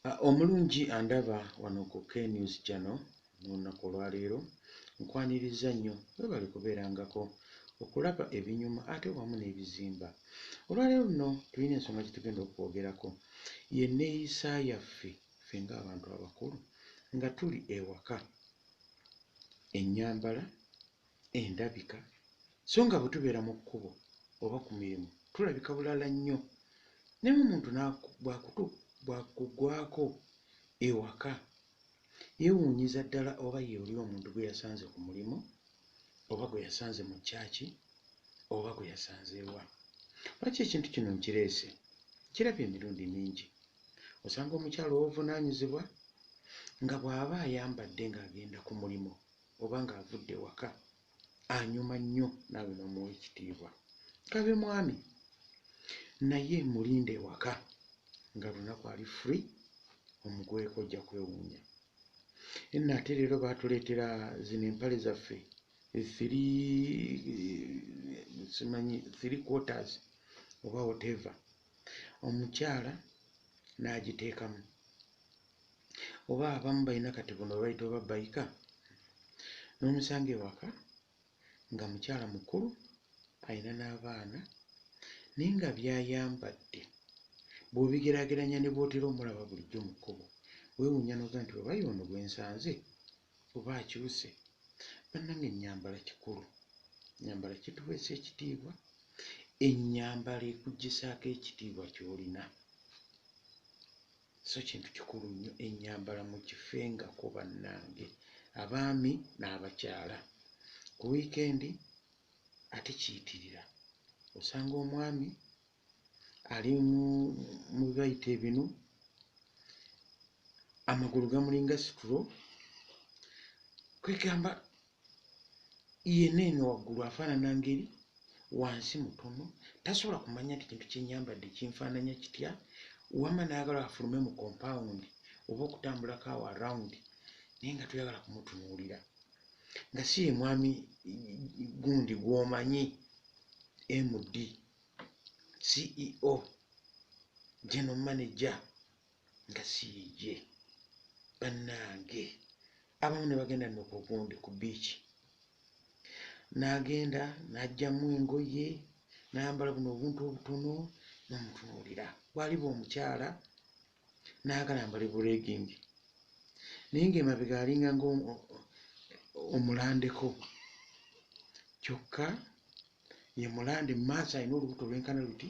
Ah, omulungi andaba wano ku knews jano nolunaku olwaleero nkwaniriza nnyo webale kubeerangako okulaba ebinyuma ate wamu n'ebizimba olwaleero luno tulina ensonga gyetugenda okwogerako yeneeyisa yaffe fe ngaabantu abakulu nga tuli ewaka enyambala endabika so nga bwe tubeera mu kkubo oba ku mirimu tulabika bulala nnyo ne mu muntu bw'akugwako ewaka yeewuunyiza ddala oba ye oli omuntu gwe yasanze ku mulimu oba gwe yasanze mu kyaki oba gwe yasanzeewa lwaki ekintu kino nkireese kiraba emirundi mingi osanga omukyalo obuvunaanyizibwa nga bw'aba ayambadde ng'agenda ku mulimu oba ng'avudde ewaka anyuma nnyo naawe n'omuwa ekitiibwa. Kabe mwami naye mulinde ewaka nga lunaku ali free omugweko ojja kwewuunya. Enno ate leero baatuleetera zino empale zaffe simanyi three quarters oba whatever omukyala n'agiteekamu oba abamu balina kati buno baita oba baika nomusanga ewaka nga mukyala mukulu alina n'abaana naye nga byayambadde bwobigerageranya ne bwotera omulaba bulijjo mu kkubo wewunya noga nti oba yoono gwensanze oba akyuse bannange enyambala kikulu nyambala kituweesa ekitiibwa enyambala ekugisaako ekitiibwa kyolina So kintu kikulu nnyo ennyambala mugifengako bannange abaami n'abakyala. Ku wiikendi ate kiyitirira osanga omwami ali mu bibayita ebinu amagulu gamulinga situlo kwegamba yena eno waggulu afaanana ngeri wansi mutono tasobola kumanya nti kintu kyenyambadde kinfaananya kitya wama nayagala afulume mu compound oba okutambulako awo around naye nga toyagala kumutunuulira nga si ye mwami gundi gwomanyi md ceo general manager nga siyiye bannange abamu ne bagenda no ku gundi ku biiki n'agenda n'ajjamu engoye n'ayambala buno obuntu obutono n'omutunuulira bwaliba omukyala n'agala mbale buregingi naye ng'emabega alinga nga omulandeko kyokka ye mulande mu maaso alina olubuto olwenkana luti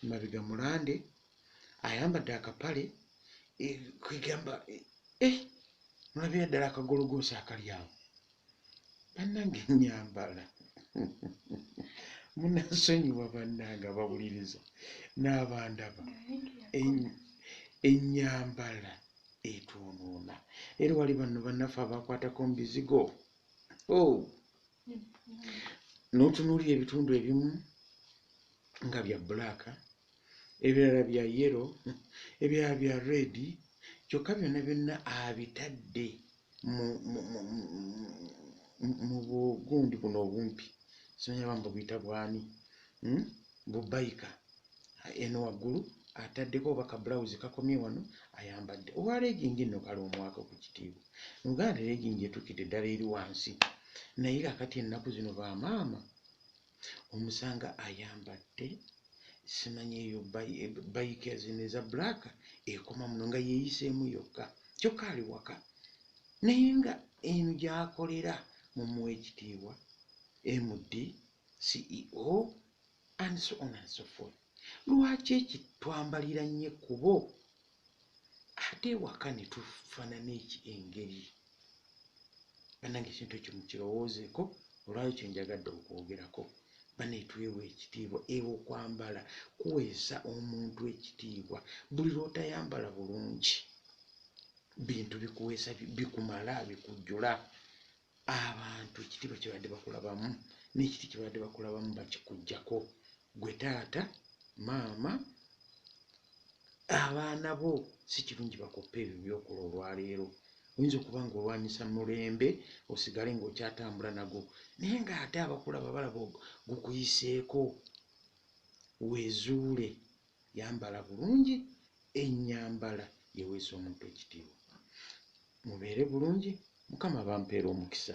emabega mulande ayambadde akapale eh, kwegamba eh, eh, nolabira ddala akagologoosa akali awo bannange nyambala munasonyiwa bannange abawuliriza n'abandaba enyambala etwonoona era wali banno bannaffe abakwatako mu bizigo oh. n'otunuulira ebitundu ebimu nga bya bulaaka ebirala bya yellow ebirala bya red kyokka byonna byonna abitadde mu mu bugundi buno obumpi simanya ba mbubuyita bwani hmm? bubayika eno waggulu ataddeko oba ka bulawuzi kakomye wano ayambadde owa legingi nno kale omwaka ku kitiibwa mu uganda legingi etukidde ddala eri wansi naye kakati ennaku zino ba maama omusanga ayambadde simanyi eyo bayika zino eza black ekoma muno nga yeyiseemu yokka kyokka ali waka naye nga eno gyakolera mumuwa ekitiibwa md ceo and so on and so forth lwaki eki twambalira nnyo ekkubo ate ewaka ne tufanana eki engeri banange ekintu ekyo mukirowoozeko olwayo kyo njagadde okwogerako banetwewa ekitiibwa ewo kwambala kuweesa omuntu ekitiibwa buli lwotayambala bulungi bintu bikuweesa bikumala bikujjula abantu ekitiibwa kyebadde bakulabamu n'ekiti kyebadde bakulabamu bakikujjako gwe taata maama abaana bo si kirungi bakoppa ebyo byokola olwaleero oyinza okuba nga olwanyisa mulembe osigale ngaokyatambula nago naye nga ate abakulaba balaba gukuyiseeko wezuule Yambala bulungi ennyambala eweesa omuntu ekitiibwa. Mubeere bulungi, Mukama abampeere omukisa.